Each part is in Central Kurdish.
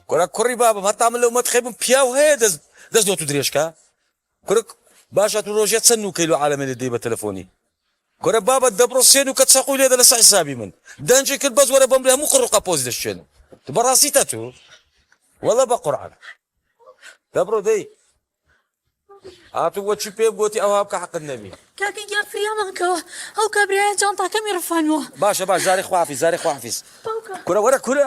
کورە کوڕی بابم هەتا من لەو مەتخەی بم پیاو هەیە دەست دەست دۆ تو درێژکا کورە باشە تو روژێ چەن نوکەی لۆ عالەمێ لێ دەی بە تەلەفۆنی کورە بابت دەبڕ سێ نوکە چەقوی لێدە لەسە حیسابی من دەنجی کرد بەس وەرە بەمبری هەموو قڕ و قەپۆزی دەشکێنم تو بەڕاستی تە تو وەڵە بە قورعان دەبڕۆ دەی هاتو وە چی پێ گوتی ئەوها بکە حەقت نەبی کاکە گیان فریامان کەوە ئەو کابرایە جانتاکەمی ڕفانوە باشە باش زاری خوافیز زاری خوافیز کورە وەرە کورە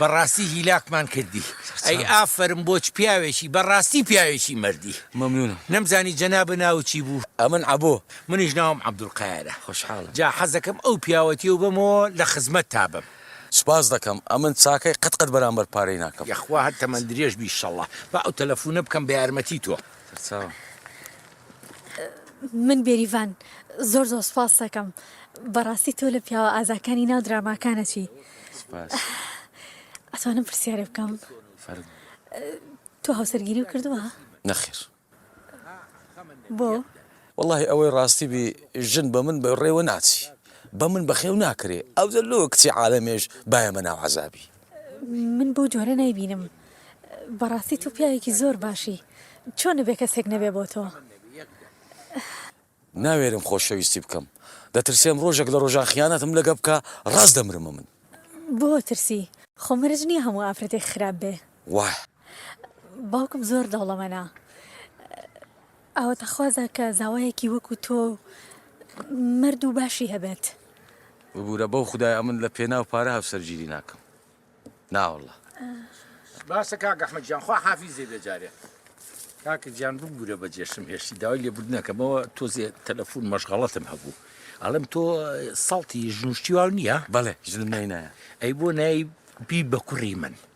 بەڕاستی هیلاکمان کردی ئەی ئافەرم بۆچ پیاوێکی بەڕاستی پیاوێکی مەردی. مەمنونم. نەمزانی جەنابت ناوت چی بوو؟ ئەمن عەبۆ. منیش ناوم عەبدولقایرە. خۆشحاڵم. جا حەزەکەم ئەو پیاوەتیەو بەمەوە لە خزمەتتا بم. سوپاست دەکەم ئەمن چاکەی قەت قەت بەرامبەر پارەی ناکەم. یەخوا هەر تەمەن درێژ بی شەڵا با ئەو تەلەفونە بکەم بە یارمەتی تۆ. سەرچاوە. من بێریڤان زۆر زۆر سوپاستەکەم بەڕاستی تۆ لە پیاوە ئازاکانی ناو دراماکانەچی ئەتوانم پرسیارێ بکەم تۆ هاوسەرگیری و کردووە نەخێر بۆ واللهی ئەوەی ڕاستی بی ژن بە من بە ڕێوە ناچی بە من بەخێو ناکرێ ئەو لۆ کچی عاالەمێش باە مە ناو عذابی من بەو جۆرە نایبینم. بەڕاستی تۆ پیاوێکی زۆر باشی چۆنە بێ کەسێک نەبێ بۆ تۆ. ناوێرم خۆشەویستی بکەم دەترسێم ڕۆژێک لە ڕۆژان خیانەتم لەگە بکا ڕاست دەمرم ئەمن. بۆ ترسی؟ خۆ مەرج نیە هەموو ئافرەتێک خراپ بێ. واه. باوکم زۆر دەوڵەمەنە. ئاواتەخوازە کە زاوایەکی وەکو تۆ و مەرد و باشی هەبێت. ببورە بەو خودایە من لە پێناو پارە هاوسەرگیری ناکەم ناوەڵا. باشە کاک ئەحمەد گیان خوا حافیزێ بێ جارێ. کاکە گیان ببورە بە جێشم هێشتی داوای لێبوردنەکەمەوە تۆزێ تەلەفون مەشغەڵەتم هەبوو ئەڵێم تۆ سەڵتی ژنوشتیواو نییە؟ بەڵێ ژنم نای نایە. ئەی بۆ نای بی بە کوڕی من.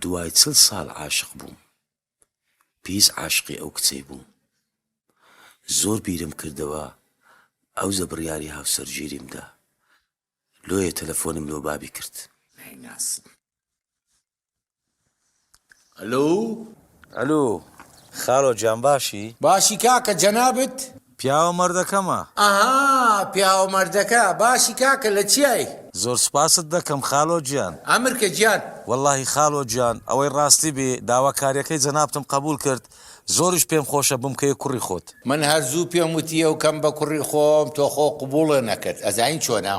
دوای چل ساڵ عاشق بووم پیس عاشقی ئەو کچەی بووم زۆر بیرم کردەوە ئەو زە بڕیاری هاوسەرگیریم دا لۆیە تەلەفۆنم لۆ بابی کرد نایناسم ئەلۆ ئەلۆ خاڵۆ جان باشی؟ باشی کاکە جەنابت؟ پیاوە مەردەکەمە. ئەها پیاوە مەردەکە باشی کاکە لە چیای. زۆر سوپاست دەکەم خالۆ گیان. ئەمرکە گیان. وەڵاهی خالۆ گیان ئەوەی ڕاستی بێ داوا کاریەکەی جەنابتم قەبوول کرد زۆریش پێم خۆشە بمکەیە کوڕی خۆت. من هەر زوو پێم وتی ئەو کەم بە کوڕی خۆم تۆ خۆ قبوڵێ نەکرد ئەزانی چۆنە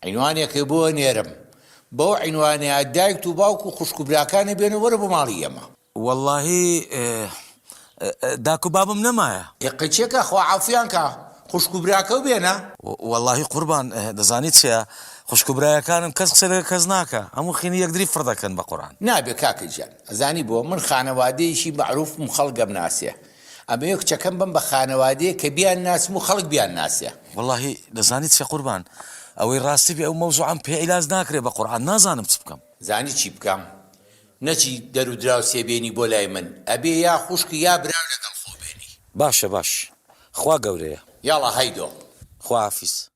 عینوانێکی بۆ نێرم بەو عینوانەیا دایکت و باوک و خوشک و براکانی بێنە وەرە بۆ ماڵی ئێمە. وەڵاهی داکو بابم نەمایە. ئێ قەچیە کا خوا عەفویان کا خوشکو براکەو بێنە. وەڵاهی قوربان دەزانی چیە خوشکو برایەکانم کەس قسە لەگەر کەس ناکا هەموو خینی یەکدری فڕ دەکەن بەقوران. نابێ کاکە گیان ئەزانی بۆ من خانەوادەیەکی مەعروفم خەڵک ئەمناسێ ئەمەوێ کچەکەم بەم بە خانەوادەیەک کە بیان ناسم و خەڵک بیان ناسێ. وەڵاهی دەزانی چیە قوربان ئەوەی ڕاستی بێ ئەو مەوزوعەم پێ عیلاج ناکرێ بەقوران نازانم چ بکەم. زانی چی بکەم نەچی دەرو دراوسێ بێنی بۆ لای من ئەبێ یا خوشک یا برا لەگەڵ خۆ بێنی. باشە باش خوا گەورەیە. یاڵا هەیدۆ. خواحافیز.